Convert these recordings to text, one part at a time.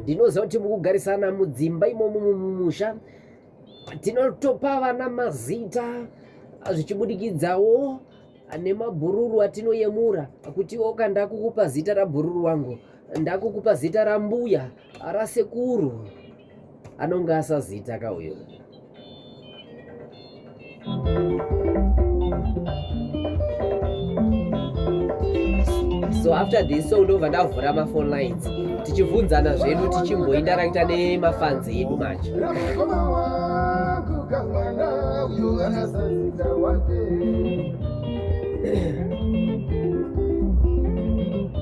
ndinoziva kuti mukugarisana mudzimba imomo mumusha tinotopa vana mazita zvichibudikidzawo nemabhururu atinoyemura kuti oka ndakukupa zita rabhururu wangu ndakukupa zita rambuya Ara sekuru anonge asazita ka uyo. so after this so ndobva ndavhura mafone lines tichibvunzana zvedu tichimboindarakita nemafanzi edu manje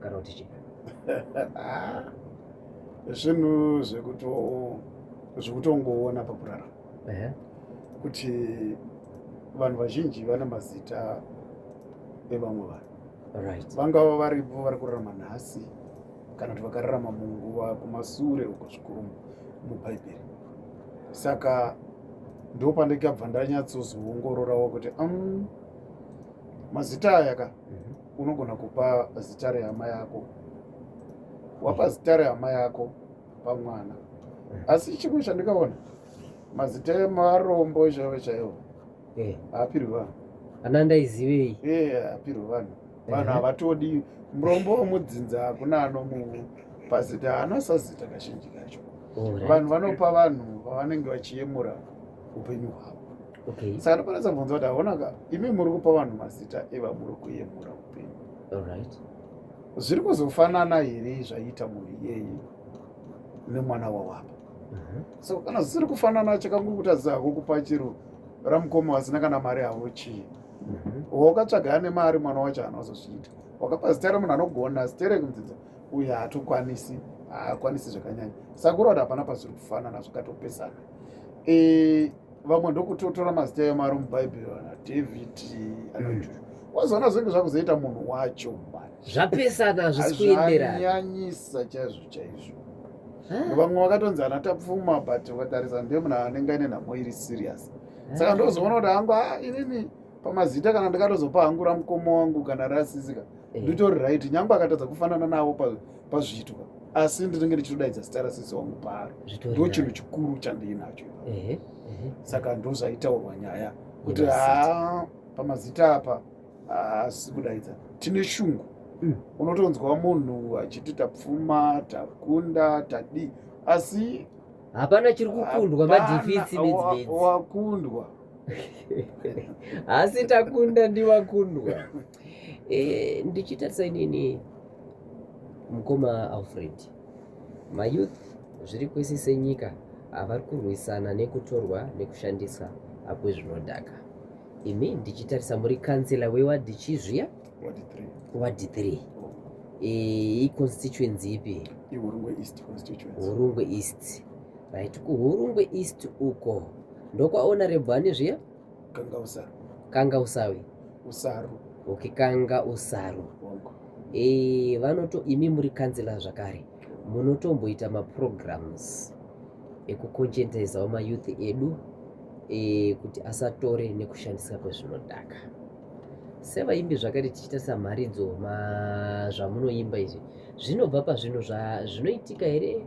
kana kuti chii zvinhu zvekutongoona pakurara kuti vanhu vazhinji vane mazita evamwe vanhu vangava varipo vari kurarama nhasi kana kuti vakararama munguva kumasure uko zvikuru mubhaibheri saka ndopandikabva ndanyatsozoongororawo kuti um, mazita aya ka mhm. unogona kupa zita rehama yako wapa zita rehama yako pamwana eh. asi chimwe chandikaona mazita emarombo chaivo chaivo eh. haapirwi vanhu ana ndaizivei eh, haapirwi vanhu vanhu havatodi murombo wemudzinza hakuna anomu pazita haana sazita kazhinji kacho vanhu vanopa vanhu vavanenge vachiyemura upenyu hwavo okay. saka ndokwanisa kubvunza kuti haonaka imi muri kupa vanhu mazita evamuri kuyemura upenyu right. zviri kuzofanana here zvaiita munhu iyeyi nemwana wawapa mm -hmm. so kana zvisiri kufanana chakangokutadza hako kupa chiro ramukoma vasina kana mari havo chii mm -hmm. wakatsvaga ane mari mwana wacho hana wazozviita wakapa zita remunhu anogona zita rekunzinza uye haatokwanisi haakwanisi zvakanyanya sakura kuti hapana pazviri kufanana zvakatopesana e, vamwe ndokutotora mazita ayo mari mubhaibheri ana david anoita mm. wazoona zvinenge zvakuzoita munhu wacho mani zvapesana hazvisi kuenderana nyanyisa chaizvo chaizvo vamwe vakatonzi ana tapfuma but ukatarisa ndiye munhu anenge aine nhamo iri serious saka ndozoona kuti hangu ah, inini pamazita kana ndikatozopa hangu ramukoma wangu kana rasisika eh. nditori right nyange akatadza kufanana navo pa pazviitwa asi ndinenge ndichitodaidza zita rasisi wangu paari ndo chinhu chikuru chandiinacho saka ndozvaitaurwa nyaya kuti haa pamazita apa haasi kudaidza tine shungu mm. unotonzwa munhu achiti tapfuma takunda tadii asi hapana chiri kukundwa madhifitsi midzimidzi wakundwa asi takunda ndiwakundwa eh, ndichitarisa inini mukoma alfred mayouth zviri kwese senyika havari kurwisana nekutorwa nekushandisa apo zvinodhaka imi ndichitarisa muri kansela wewadhi chii zviya wadhi 3 eh, iconstituency ipi hurungwe east right kuhurungwe east uko ndokwaona rebwani zviya kanga usaru kanga usawi usaru okay kanga usaru e, vanoto imi muri kanzila zvakare munotomboita maprograms ekukonchentaizawo mayouth edu e, kuti asatore nekushandisa kwezvinodhaka sevaimbi zvakare tichiita samharidzo zvamunoimba izvi zvinobva pazvinhu zvinoitika here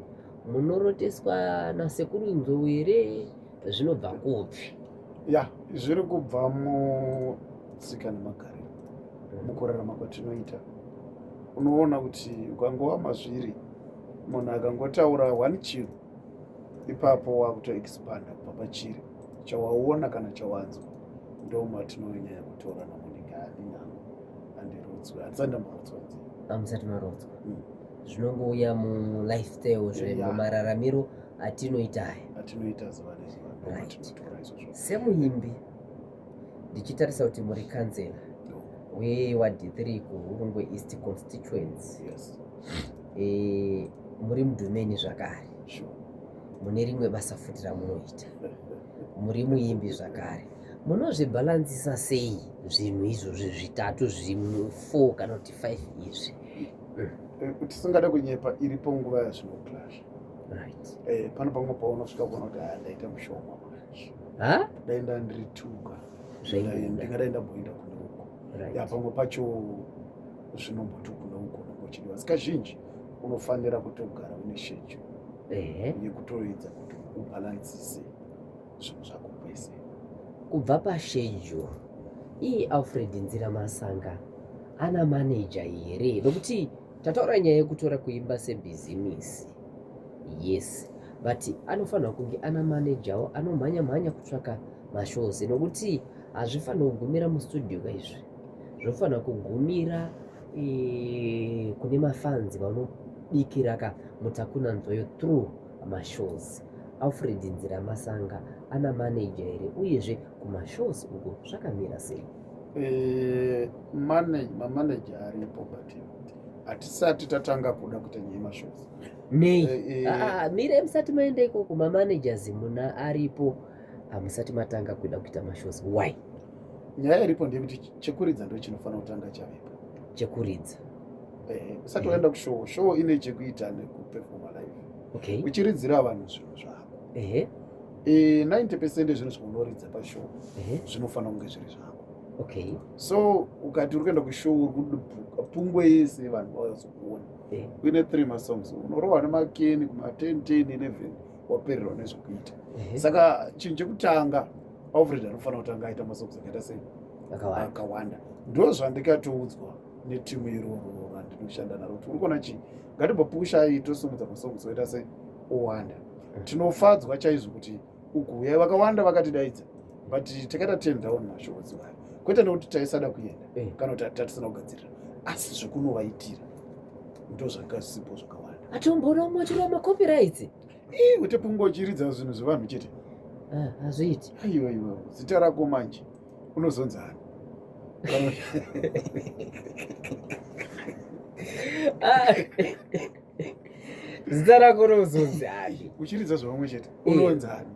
munoroteswa nasekuru nzou here zvinobva kupi ya zviri kubva mutsika nemagariro mm. mukurarama kwatinoita unoona kuti ukangova mazviri munhu akangotaura one chiro ipapo wakutoexpanda kubva pachiri chawaona kana chawanzwa ndomatinonyanya yekutora namonika aninano andirodzwe handisati ndambodzwa nzi amusati marodzwa mm. zvinongouya mulifestyle zve mumararamiro yeah atinoita aya atinoita zuva nezuva semuimbi ndichitarisa kuti muri kanzela wewadhithiri kuhurungwe east constituency yes. e, muri mudhumeni zvakare sure. mune rimwe basa futi ramunoita muri muimbi zvakare munozvibhalansisa sei zvinhu izvozvi zvitatu zvimwe four kana kuti five izvi eh, tisingada kunyepa iripo nguva yazvinoclasha eh, pano pamwe paunosvika kuona kuti ah, ndaita mushoma manje dai nda ndiri tuka ndingadai ndamboenda kune uko ya pamwe pacho zvinomboti kune uko nombochidiwa sika zhinji unofanira kutogara une shejo yekutoedza kuti ubhalansise zvinhu zvako kwese kubva pashejo ii alfred nzira masanga ana maneja here nokuti Tataura nyaya yekutora kuimba sebhizimisi. Yes. But anofanirwa kunge ana managerwo anomhanya mhanya kutsvaka mashows nokuti hazvifanirwa kugumira mustudio ka izvi. Zvofanirwa kugumira e, kune mafanzi vanobikira ka mutakuna nzwayo through mashows. Alfred Nziramasanga ana manager here uyezve kumashows uko zvakamira sei? Eh, mamaneja aripo but hatisati tatanga kuda kuita nyaya yemashows nei eh, eh. Ah, ah, mire musati maenda ikoko mamanagers muna aripo hamusati matanga kuda kuita mashows why nyaya iripo ndeyekuti chekuridza ndo chinofanira kutanga chavepo chekuridza usati waenda kushow show ine chekuita nekupefoma live okay. uchiridzira vanhu zvinhu zvako e, 90 percent ezvinhu zvaunoridza pashow zvinofanira kunge zviri zvako okay so ukati uri kuenda kushow uri kudubuka pungwe yese yevanhu vazokuona uine three masongs unorohwa nemakeni kuma 10 10 11 wapererwa nezvekuita saka chinhu chekutanga alfred anofanira kutanga aita masongs akaita sei akawanda ndo zvandikatoudzwa netimu iroro randinoshanda naro kuti uri kuona chii ngatimbopushai tosimudza masongs oita se owanda mm. tinofadzwa chaizvo kuti ukuuya vakawanda vakatidaidza but takaita ten down mashows vaya kwete nekuti taisada kuenda mm. kana kuti tatisina kugadzirira asi zvekunovaitira ndo zvakasipo zvakawanda atomboromwa chirwa macopyrights ii kuti pungochiridza zvinhu zvevanhu chete ah, hazviiti aiwa iwa zita rako manje unozonza ani ah. zita rako rinozonzi ani uchiridza zvavamwe chete unonzi ani